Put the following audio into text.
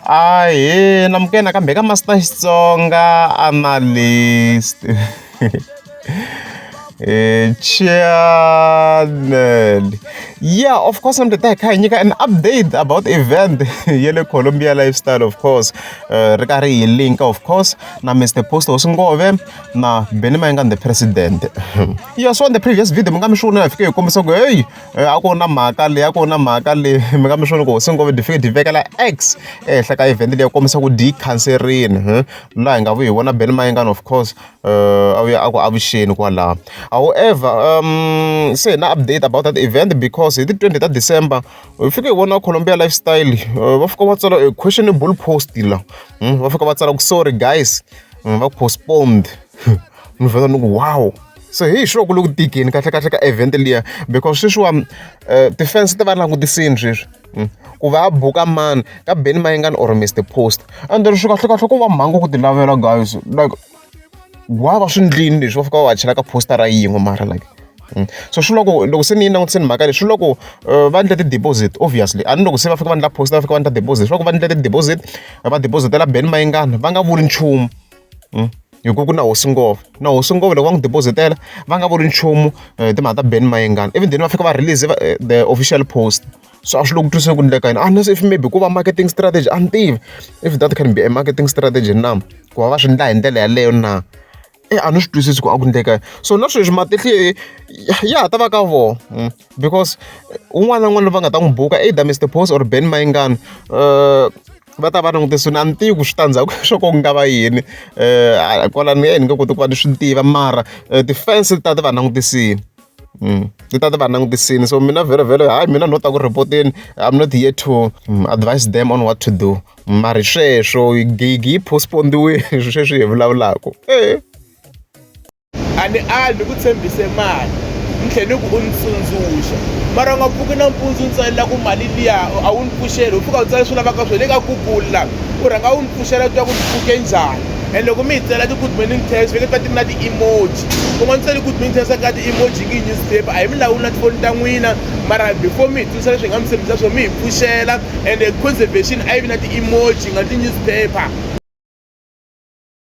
Ahee namukela nakambe eka Master Xitsonga Analyst Eh, channel yeah of course ni ta hi kha hi nyika an update about event ya le colombia lifestyle of course uh, ri karhi hi link of course na mr post osingove na benimayengande president yeah so on the previous video mi nga mi xi vona hi fike hi kombisa ku heyi a ku ri na mhaka leyi a ku ri na mhaka leyi mi nga mi swi vona ku hosi N'kombeni dyi fike dyi vekela X ehenhla ka event leyi ku kombisa ku dyi yi khanserile laha hi nga vuyi hi vona Ben Mayengani of course a vuya a ku avuxeni kwalaho however se hi na update about that event because hi ti twenty ta December hi fike hi vona Colombia Lifestyle va fika va tsala a questionable post la va fika va tsala ku sorry guys va postponed ni vhela ni ku wow. se hi sure ku le ku tikeni kahle kahle ka event liya because sweswiwani um eh, ti-fans ti va langutisini sweswi hmm. ku va a buka mani ka beni mayingani or mr post and then swi kahle kahle ku va mhangu ku ti lavela guys like wa va swi ndlini leswi va fika va va chela ka poster ra yin'we mara like Mm. so swi loko loko se ni yi langutiseni mhaka leyi swi loko uh, va endla ti-deposit obviously a ni loko se va fika va endla post va fika va endla deposit swi loko va endla ti-deposit va depositela ben mayingana va nga vuli nchumu hi ku ku na hosi ngova na hosi ngova loko va n'wi deposit-ela va nga vuli nchumu eh, timhaka ta ben mayengana even then va fika va release eh, the official post so a swi loko twiseni ku endleka yini unless if maybe ku va marketing strategy a ni tivi if that can be a marketing strategy na ku va va swi endla hi ndlela yaleyo na e a ni swi twisisi ku a ku endleka so na sweswi matihlo ya ha ta va ka vona hmm. because un'wana na un'wana loyi va nga ta n'wi buka either mr post or ben mayingani um eh, va ta va langutise ni a ni tivi ku switandzhaku swo ko ku nga va yini um kwalani ni nge koti ku va ni swi tiva mara um ti-fans ti ta ti va langutisile Mm. ti ta ti va langutisile so mina vhele vhele hayi mina no ta ku report-eni i'm not here to mm, advise them on what to do mari sweswo gigi yi postpondiwile sweswi hi vulavulaka e a ni ali ni ku tshembise mali ni tlhe ni ku u ni tsundzuxa mara u nga pfuki nampundzu ni tsalela ku mali liya a wu ni pfuxeli u pfuka u tsale swi lavaka swo le ka google la u rhanga u ni pfuxela twa ku ni pfuke njhani and loko mi hi tsela ti-good morning test veke ta ti na ti-emoji u nga ni tseli good morning test ka ti-emoji ngi newspaper a hi mi lawuli na tifoni ta n'wina mara before mi hi tsundzuxa leswi hi nga mi tshembisa swo mi hi pfuxela and conservation a yi vi na ti-emoji nga ti-newspaper